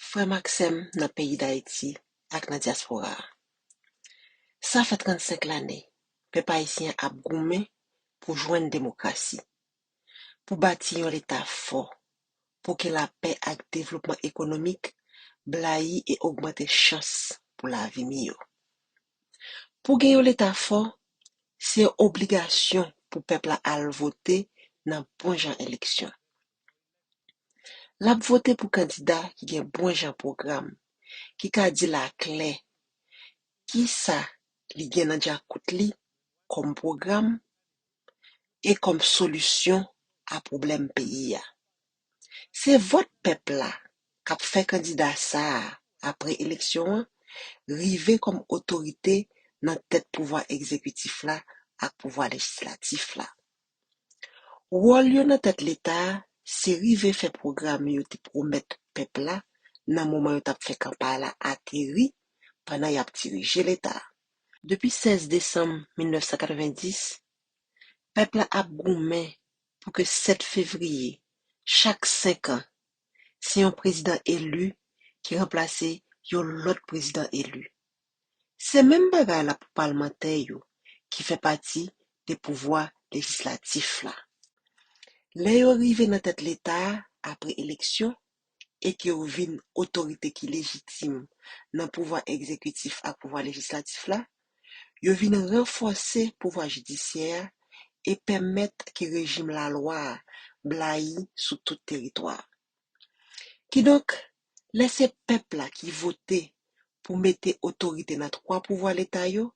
Frè m ak sè m nan peyi Dayiti ak nan dyaspora a, sa fè 35 lane pèp ayisyen an ap goumen pou jwenn demokrasi, pou bati yon Leta fò, pou gen lapè ak devlopman ekonomik blayi e ogmante chans pou lavi miyo. Pou gen yon leta fò, se yon obligasyon pou pèp la al vote nan bon jan eleksyon. L ap vote pou kandida ki gen bon jan pwogram, ki ka di l aklè ki sa li gen nan djakout li kòm pwogram e kòm solisyon a pwoblèm peyi a. Se vòt pèp la k ap fè kandida sa a apre eleksyon an rive kòm otorite nan tèt pouvwa egzekitif la ak pouvwa lejislatif la. Wòl yo nan tèt Leta a se rive fè pwogram yo te pwomèt pèp la nan moman yo t ap fè kanpay la ateri pandan y ap dirije Leta a. Depi 16 desanm 1990, pèp la ap goumen pou ke 7 fevriye chak 5 an, se yon prezidan eli ki ranplase yon lòt prezidan eli. Se menm bagay la pou palmantè yo ki fè pati de pouvwa lejislatif la. Lè yo rive nan tèt Leta a apre eleksyon, e ke yo vin otorite ki lejitim nan pouvwa egzekitif ak pouvwa lejislatif la, yo vin ranfòse pouvwa jidisyè a e pèmèt ke rejim lalwa a blayi sou tout teritwa a. Kidonk, lè se pèp la ki vote pou mete otorite nan twa pouvwa Leta yo,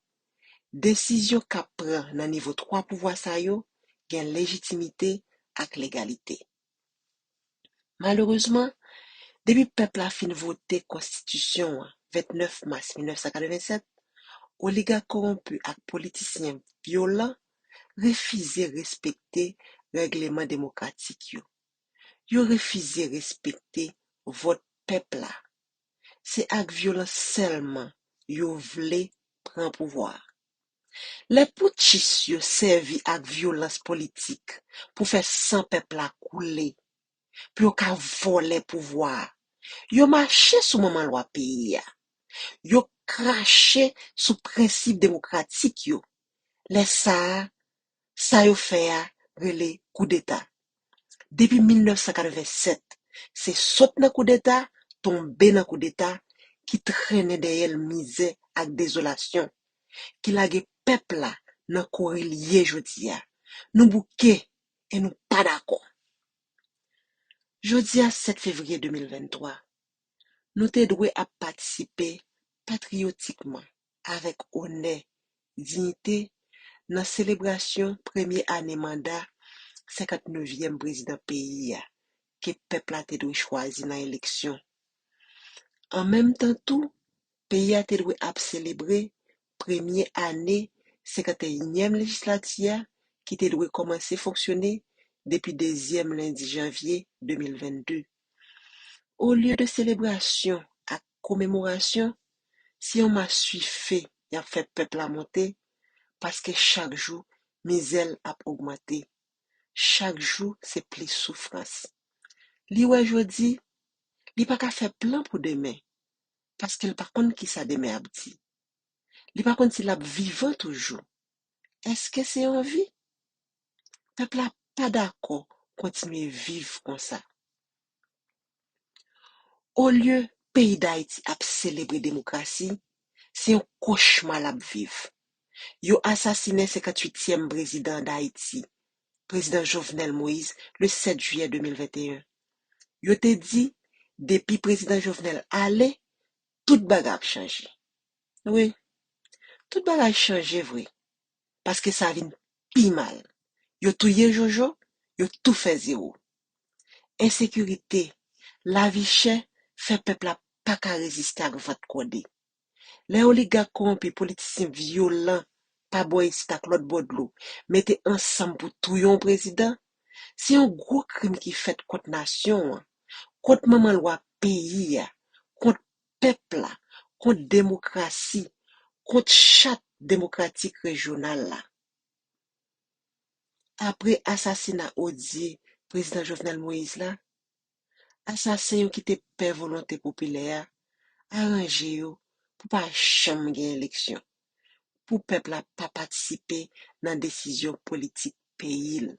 desizyon kap pran nan nivo twa pouvwa sa yo gen lejitimite ak legalite. Malerezman, depi pèp la fin vote konstitisyon an 29 mas 1987, oligak kowonpi ak politisyen vyolan refize respekte règleman demokratik yo. Yo refize respekte vòt pèp la. Se ak vyolans sèlman yo vle pran pouvwa a. Lè poutchis yo sèvi ak vyolans politik pou fè san pèp la koule, pou yo ka vòlè pouvwa a, yo mache sou manman lwa peyi a. Yo krache sou prensip demokratik yo. Lè sa a, Sa yo fè a rele koudeta. Depi 1987, se sot nan koudeta, tonbe nan koudeta, ki trennen dèyè l mizè ak dezolasyon, ki lage pèp la nan kouri l ye jodi a. Nou bouke e nou pa dakò. Jodi a 7 fevriye 2023, nou te dwe ap patisipe patriyotikman. avèk onè, diyite nan selebrasyon premye ane manda 59 vyèm prezidan peyi a ke pèp la te dwe chwazi nan eleksyon. An menm tan tou, peyi a te dwe ap selebre premye ane 51 nyèm lejislati a ki te dwe kòmanse fonksyone depi dezyèm lendi janvye 2022. Olye de selebrasyon ak komemorasyon, se yon maswife y ap fè pèp la monte paske chak jou mizè l ap ogmante, chak jou se plis soufrans. Li wè jodi, li pa ka fè plan pou demen paske l pa konn kisa demen ap di. Li pa konn si l ap vivan toujou. Èske se anvi? Pèp la pa dakò kontinye viv konsa. Olye peyi Dayiti ap selebre demokrasi, se yon kochma l ap viv. Yo asasinen 58 tièm prezidan Dayiti, Prezidan Jovenel Moise le 7 jiyè 2021. Yo te di depi Prezidan Jovenel ale, tout bagay ap chanje. Wi, tout bagay chanje vre. paske sa vin pi mal. Yo touye Jojo, yo tou fè zewo. Ensekirite, lavi chè fè pèp la pa ka reziste ak vant kòde. Lè oligak kowonpi, politisyen vyolan pa bò isit ak lòt bò dlo mete ansanm pou touye yon prezidan, se yon gwo krim ki fèt kont nasyon an, kont manman lwa peyi a, kont pèp la, kont demokrasi, kont chat demokratik rejyonal la. Apre asasina odye Prezidan Jovenel Moïse la, asasen yo ki te pè volonte popilè a aranje yo pou pa janm gen eleksyon, pou pèp la pa patisipe nan desizyon politik peyi l.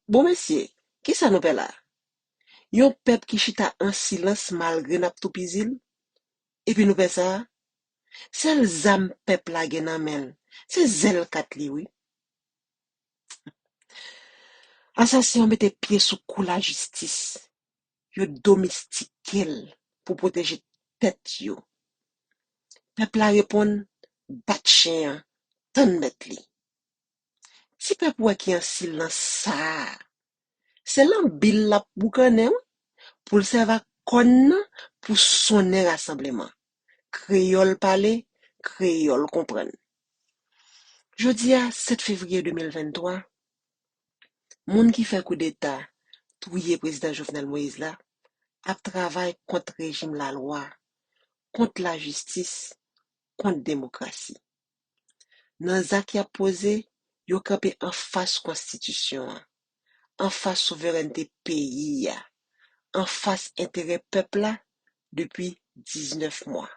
Bon mesye, kisa nou pè la? Yon pèp ki chita an silans malgre n ap toupizi l? Epi nou pè sa a? Sèl zam pèp la gen nan men l, se zèl kat li wi. Asasen an mete pye sou kou lajistis, yo domestike l pou pwoteje tèt yo. Pèp la reponn, Bat chen an, tann mèt li. Ti pèp ou a ki an silans sa a, Se lan bil l ap boukannen wi pou l sèvi ak kòn nan pou sonnen rasanbleman. Kreyòl pale, kreyòl konprann. Jodi a 7 fevriye 2023, moun ki fè koudeta touye prezidan Jovenel Moïse la ap travay kont rejim lalwa, kont lajistis, kont demokrasi. Nan zak y ap poze, yo kanpe anfas konstitisyon an, anfas souverènte peyi a, anfas enterè pèp la depi 19 mwa.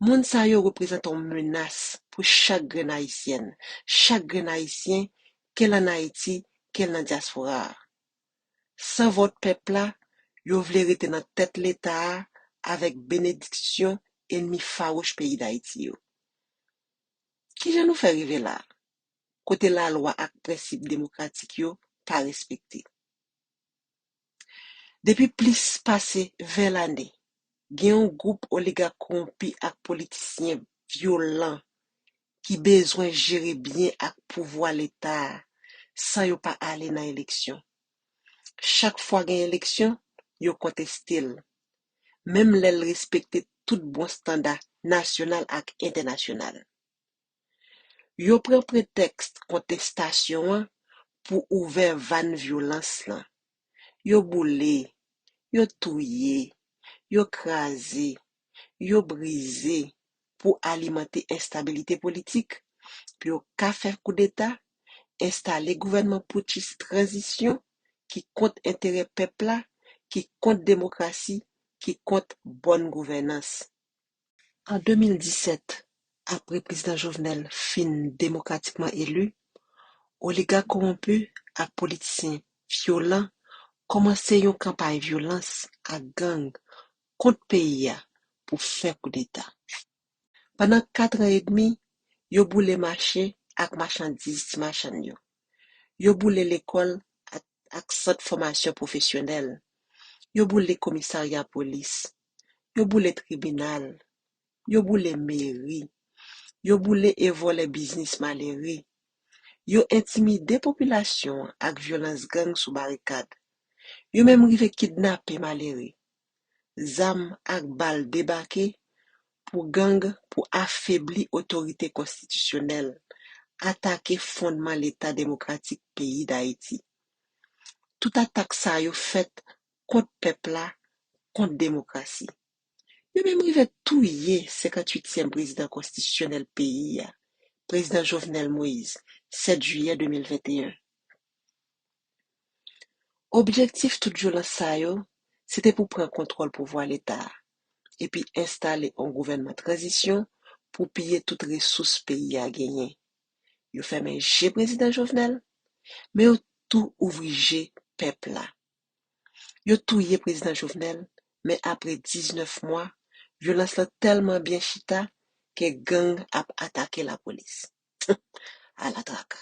Moun sa yo reprezante yon menas pou chak grenn Ayisyèn, chak grenn Ayisyen, ke l an Ayiti, ke l nan dyaspora a. San vòt pèp la, yo vle rete nan tèt leta a avèk benediksyon enmi fawouch peyi Dayiti yo. Kijan nou fè rive la, kote lalwa ak prensip demokratik yo pa respekte? Depi plis pase 20 lane, gen yon gwoup oligak kowonpi ak politisyen vyolan ki bezwen jere byen ak pouvwa leta a san yo pa ale nan eleksyon. Chak fwa gen eleksyon, yo konteste l, menm lè l respekte tout bon standa nasyonal ak entènasyonal. Yo pran pretèks kontestasyon an pou ouvè vàn vyolans lan. yo boule, yo touye, yo kraze, yo brize pou alimante enstabilite politik, pou yo ka fè koudeta, enstale gouvènman poutchis tranzisyon ki kont enterè pèp la, ki kont demokrasi, ki kont bòn gouvènans. An 2017, apre Prezidan Jovenel fin demokratikman eli, oligak kowonpi ak politisyen vyolan kòmanse yon kanpay vyolans ak gang kont peyi a pou fè koudeta. Pandan katran edmi, yo boule mache ak machandiz ti machann yo. Yo boule lekòl ak sant fòmasyon pwofesyonèl. Yo boule komisarya polis. Yo boule tribinal. Yo boule meri. Yo boule e vòlè biznis malere. Yo entimide popilasyon an ak vyolans gang sou barikad. Yo menm rive kidnape malere, zam ak bal debake pou gang pou afebli otorite konstitisyonèl, atake fondman leta demokratik peyi Dayiti. Tout atak sa yo fèt kont pèp la, kont demokrasi. Yo menm rive touye 58 tièm prezidan konstitisyonèl peyi a, prezidan Jovenel Moïse, 7 jiyè 2021. Objektif tout vyolans sa yo, se te pou pran kontwòl pouvwa leta a, epi enstale yon gouvènman tranzisyon pou piye tout resous peyi a genyen. Yo fèmen je Prezidan Jovenel, men yo tou ouvri je pèp la. Yo touye Prezidan Jovenel, men apre 19 mwa, vyolans lan tèlman byen chita ke gang ap atake lapolis. Ala traka!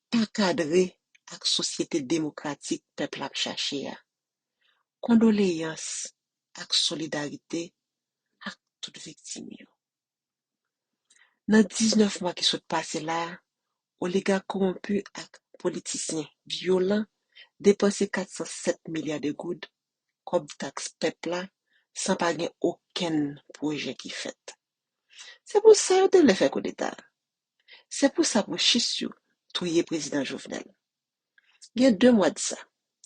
pa kadre ak sosyete demokratik pèp la ap chache a. Kondoleyans ak solidarite ak tout viktim yo. Nan 19 mwa ki sot pase la, oligak kowonpi ak politisyen vyolan depanse 407 milya de goud kòb taks pèp la san pa gen okenn pwojè ki fèt. Se pou sa yo te vle fè koudeta. Se pou sa puchis yo touye prezidan Jovenel. Gen 2 mwa de sa,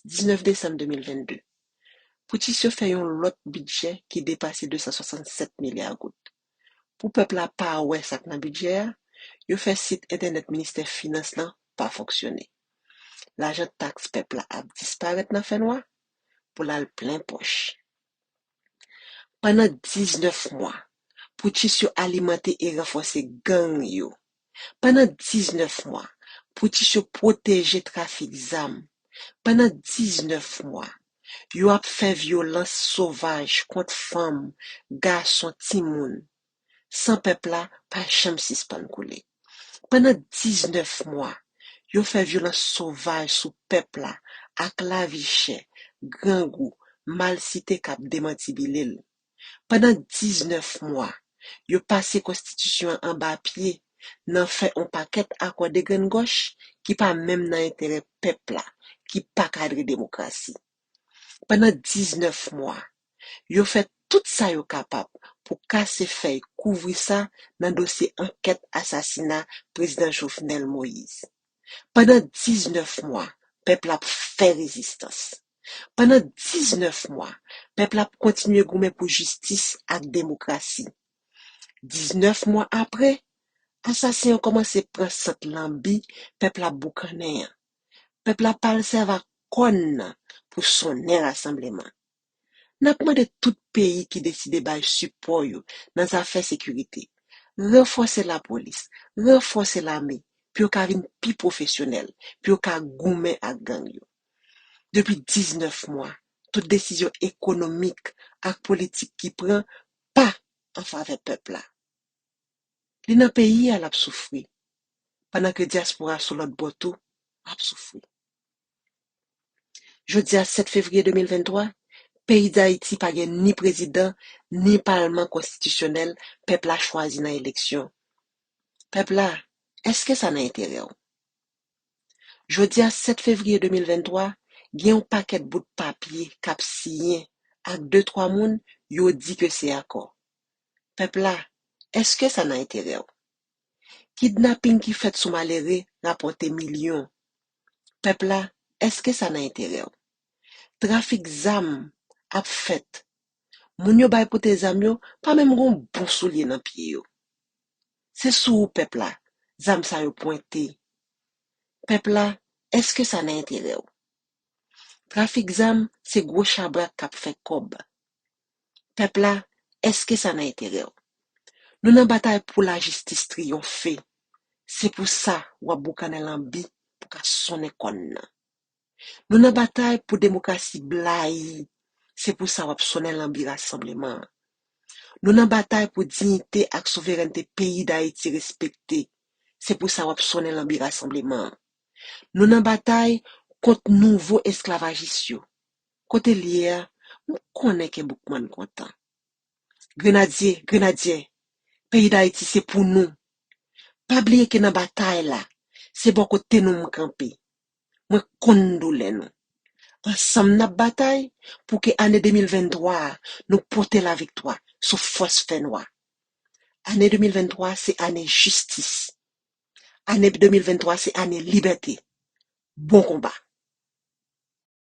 19 desanm 2022, putchis yo fè yon lòt bidjè ki depase 267 milya goud. Pou pèp la pa wè sa k nan bidjè a, yo fè sit entènèt ministè finans lan pa fonksyone. Lajan taks pèp la ap disparèt nan fènwa pou l al plen pòch. Pandan 19 mwa, poutchis yo alimante e ranfòse gang yo. Pandan 19 mwa, poutchis yo pwoteje trafik zam. Pandan 19 mwa, yo ap fè vyolans sovaj kont fanm, gason, timoun. San pèp la pa janm sispann koule. Pandan 19 mwa, yo fè vyolans sovaj sou pèp la ak lavi chè, grangou, malsite k ap demantibile l. Pandan 19 mwa, yo pase konstitisyon an anba pye nan fè on pakèt akò degrenngòch ki pa menm nan enterè pèp la, ki pa kadre demokrasi. pandan 19 mwa. Yo fè tout sa yo kapab pou kase fèy kouvri sa nan dosye ankèt asasina Prezidan Jovenel Moïse. Pandan 19 mwa, pèp la ap fè rezistans. Pandan 19 mwa, pèp la ap kontinye goumen pou jistis ak demokrasi. 19 mwa apre, asasen yo kòmanse pran sant lanbi pèp la boukannen an. Pèp la pral sèv ak kòn nan pou sonnen rasanbleman. N ap mande tout peyi ki deside bay sipò yo nan zafè sekirite, ranfòse lapolis, ranfòse lame pou yo ka vin pi pwofesyonèl, pou yo ka goumen ak gang yo. Depi 19 mwa, tout desizyon ekonomik ak politik ki pran pa an favè pèp la. Li nan peyi a l ap soufri, pandan ke dyaspora sou lòt bò tou ap soufri. Jodi a 7 fevriye 2023, peyi Dayiti pa gen ni prezidan, ni palman konstitisyonèl pèp la chwazi nan eleksyon. Pèp la, èske sa nan enterè w? Jodi a 7 fevriye 2023, gen yon pakèt bout papye k ap siyen ak de twa moun yo di ke se akò. Pèp la, èske sa nan enterè w? Kidnaping ki fèt sou malere rapòte milyon. Pèp la, èske sa nan enterè w? Trafik zam ap fèt. Moun yo bay pote zam yo pa menm gon bon soulye nan pye yo. Se sou ou pèp la, zam sa yo pwente. Pèp la, èske sa nan enterè w? Trafik zam se gwo chabrak k ap fè kòb. Pèp la, èske sa nan enterè w? Nou nan batay pou lajistis triyonfe, se pou sa w ap boukannen lanbi pou ka sonnen kòn nan. Nou nan batay pou demokrasi blayi, se pou sa w ap sonnen lanbi rasanbleman an. Nou nan batay pou diyite ak souverènte peyi Dayiti respekte, se pou sa w ap sonnen lanbi rasanbleman an. Nou nan batay kont nouvo esklavajis yo, Kote l ye a? M konnen ke Boukman kontan. Grenadye! Grenadye! Peyi Dayiti se pou nou! Pa bliye ke nan batay la, se bò kote nou m kanpe. Mwen konn doulè nou. Ansanm n ap batay pou ke ane 2023 a nou pote laviktwa sou fòs fè nwa. Ane 2023 se ane jistis. Ane 2023 se ane libète. Bon konba!